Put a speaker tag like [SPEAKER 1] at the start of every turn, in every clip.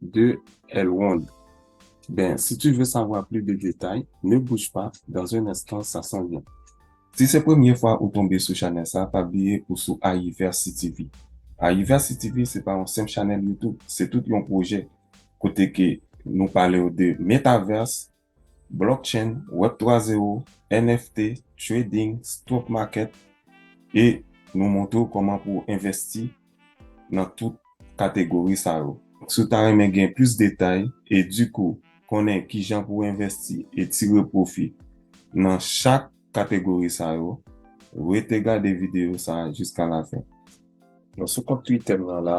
[SPEAKER 1] de El Wonn Ben si tu veux savoir plus de détails ne bouge pas dans un instant ça s'en vient. Si se premye fwa ou tonbe sou chanèl sa pa bliye ou sou Ayiversi TV Ayiversi TV se pa yon senp chanèl youtube se tout yon pwojè kote ke nou palew de Metaverse, Blockchain, Web 3 zero, NFT, Trading, Stock Market e nou montre w kòman pou w envèsti nan tout kategori sa yo. Si w ta renmen gen plis detay e di kou konnen kijan pou w envèsti e tire pwofi nan chak kategori sa yo, rete gade videyo sa jiska lafen. Mwen sou kont Twitter m nan la.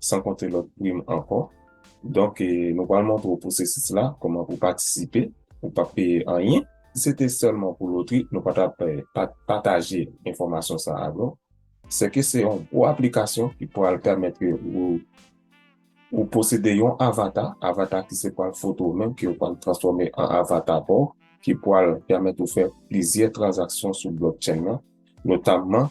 [SPEAKER 1] san konte lòt prim ankò. Donk nou pral montre w pwosesis la, kòman pou w patisipe, ou pap peye anyen. Si se te sèlman pou lotri, nou pa tap pataje enfòmasyon sa a avè w. Sèke se yon gwo aplikasyon ki pral pèmèt ke ou posede yon avata, avata ki se pral foto w menm ke yo pral transfòme an avata pa w, ki pral pèmèt ou fè plizyè tranzaksyon sou blockchain nan, notamman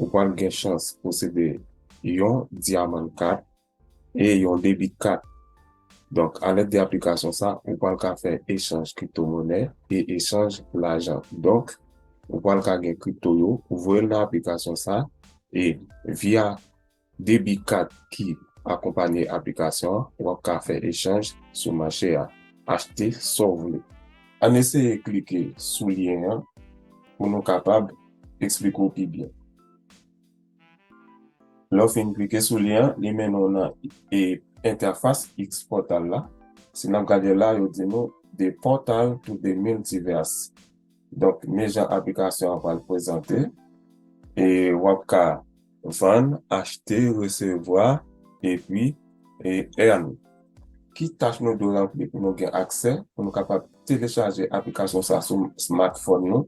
[SPEAKER 1] ou pral gen chans posede yon Diamond Card e yon Debit Card. Donk a lèd de aplikasyon sa ou pral ka fè echanj kripto monè e echanj lajan. Donk ou pral ka gen kripto yo ou voyel nan aplikasyon sa e via. Debi kat ki akonpanye aplikasyon an, w ap ka fè echanj sou mache a, achte sa w vle. Ann eseye klike sou lyen an pou nou kapab eksplike w pi byen. Lè w fin klike sou lyen an, li mennen w nan entèfas X-Portal la. Si n ap gade la, yo di nou, The portal to the multiverse. Donk men jan aplikasyon an pral prezante e wap ka vann, achte, resevwa epi earn. Ki tach nou dwe ranpli pou nou gen aksè pou nou kapab telechaje aplikasyon sa sou smartphone nou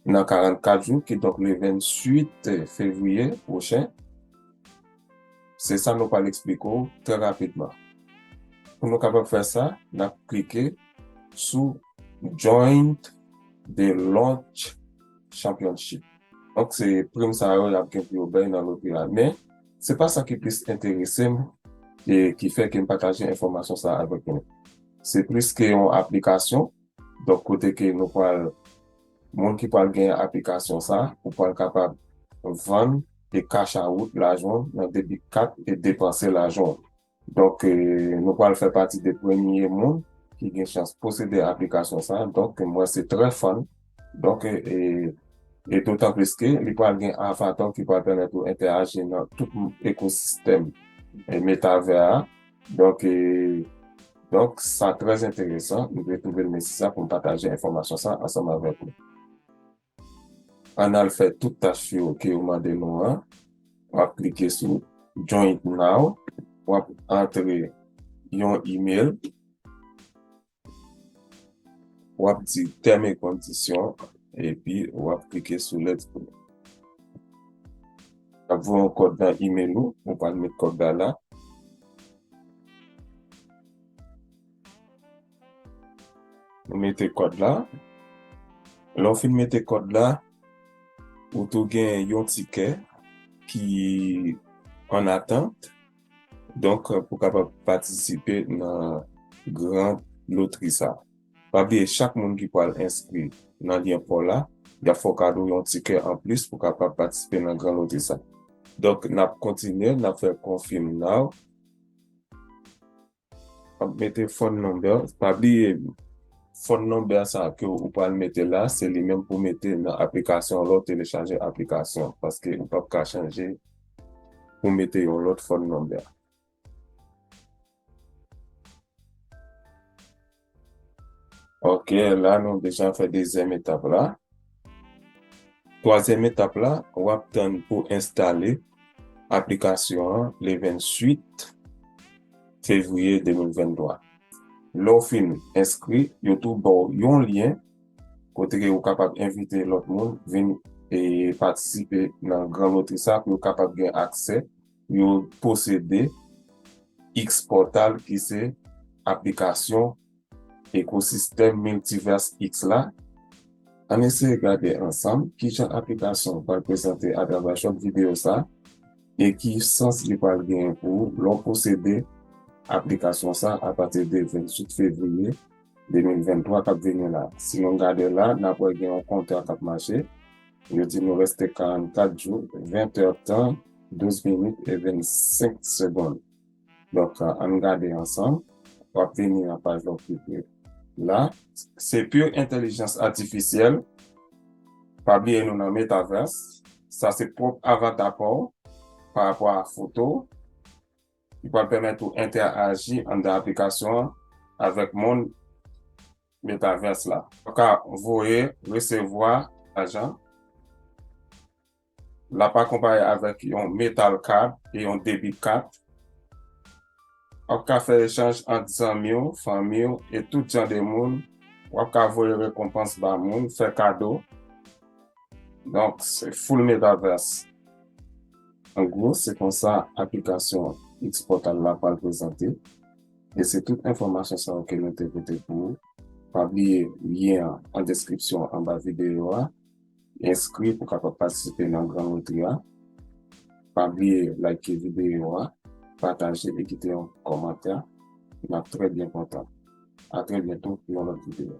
[SPEAKER 1] nan 44 jou kidonk le 28 fevriye pwochen? Se sa nou pral eksplike w trè rapidman. Pou nou kapab fè sa, n ap klike sou Join the Launch Championship. Donk se prim sa yo y ap gen pou yo bay nan lotri a. Men, se pa sa ki plis enterese m e ki fè ke m pataje enfòmasyon sa avèk nou. Se plis ke yon aplikasyon, donk kote ke nou pral. Moun ki pral gen aplikasyon sa ou pral kapab vann e cash out lajan w nan debit kat e depanse lajan w. Donk nou pral fè pati de premye moun ki gen chans posede aplikasyon sa donk mwen se trè fan donk e dotan plis ke li pral gen avatar ki pral pèmèt ou entèaji nan tout ekosistèm metavè a. Donk e Donk sa trè enteresan, m vle twouve l mesi sa pou m pataje enfòmasyon sa ansanm avèk ou. Ann al fè tout tach yo ke yo mande nou an, w ap klike sou Join now, w ap antre yon email, W ap di Tèm e Kondisyon epi w ap klike sou Let's go. L ap voye yon kòd nan imel ou, ou pral met kòd la la. Ou mete kòd la. Lè w fin mete kòd la, ou tou gen yon tikè ki an atant. Donk pou kapab patisipe nan gran lotri sa. Pa bliye chak moun ki pwal enskri nan lyen paw la, yap fè w kado yon tikè anplis pou kapab patisipe nan gran lotri sa. Donk nap kontinye, nap fè konfim naw. Wap mete phone number, pa bliye phone number sa ke ou pral mete la se li menm pou mete nan aplikasyon lè w telechaje aplikasyon paske ou pap ka chanje pou mete yon lòt phone number. Ok, la nou deja fè dezyèm etap la. Twazyèm etap la, w ap tann pou enstale aplikasyon an le 28 fevriye 2023. Lè w fin enskri, yo tou ba w yon lyen kote ke ou kapab envite lòt moun vin patisipe nan gran lotri sa pou yo kapab gen aksè. Yo posede X-Portal ki se aplikasyon ekosistèm Multiverse X la. Ann eseye gade ansanm ki jan aplikasyon an pral prezante atravè short videyo sa e ki sans li pral genyen pou ou lè w posede aplikasyon sa apati de 28 fevriye 2023 kap vini la. Si nou gade la, nap wè gen yon kontè kap mache. Yo di nou reste 44 jou, 20 tè tan, 12 minit e 25 segond. Donk, ann gade ansanm. Wap vini nan paj la w klike la. Se pure entèlijans atifisyèl. Pa bliye nou nan Metaverse. Sa se pwòp avata pa w, pa rapò a foto w. ki pral pèmèt ou entèaji anndan aplikasyon an avèk mond Metaverse la. Ou ka voye, resevwa lajan. L ap akonpaye avèk yon Metal Card e yon Debit Card. W ap ka fè echanj ant zanmi w, fanmi w e tout jan de moun. W ap ka voye rekonpans ba moun, fè kado. Donk, se full Metaverse. An gwo, se konsa aplikasyon Xportal la pral prezante e se tout enfòmasyon sa yo ke nou te pote pou ou. Pa bliye lyen an an deskripsyon anba videyo a. Enskri pou kapab patisipe nan gran lotri a. Pa bliye like videyo a, pataje e kite yon kòmantè. Nap trè byen kontan. A trè byento pou yon lòt videyo.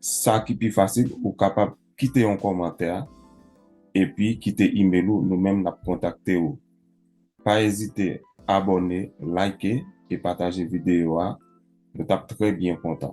[SPEAKER 1] Sa ki pi fasil ou kapab kite yon kòmantè epi kite email ou nou menm nap kontakte ou. Pa ezite abòne, like e pataje videyo a nou tap trè byen kontan.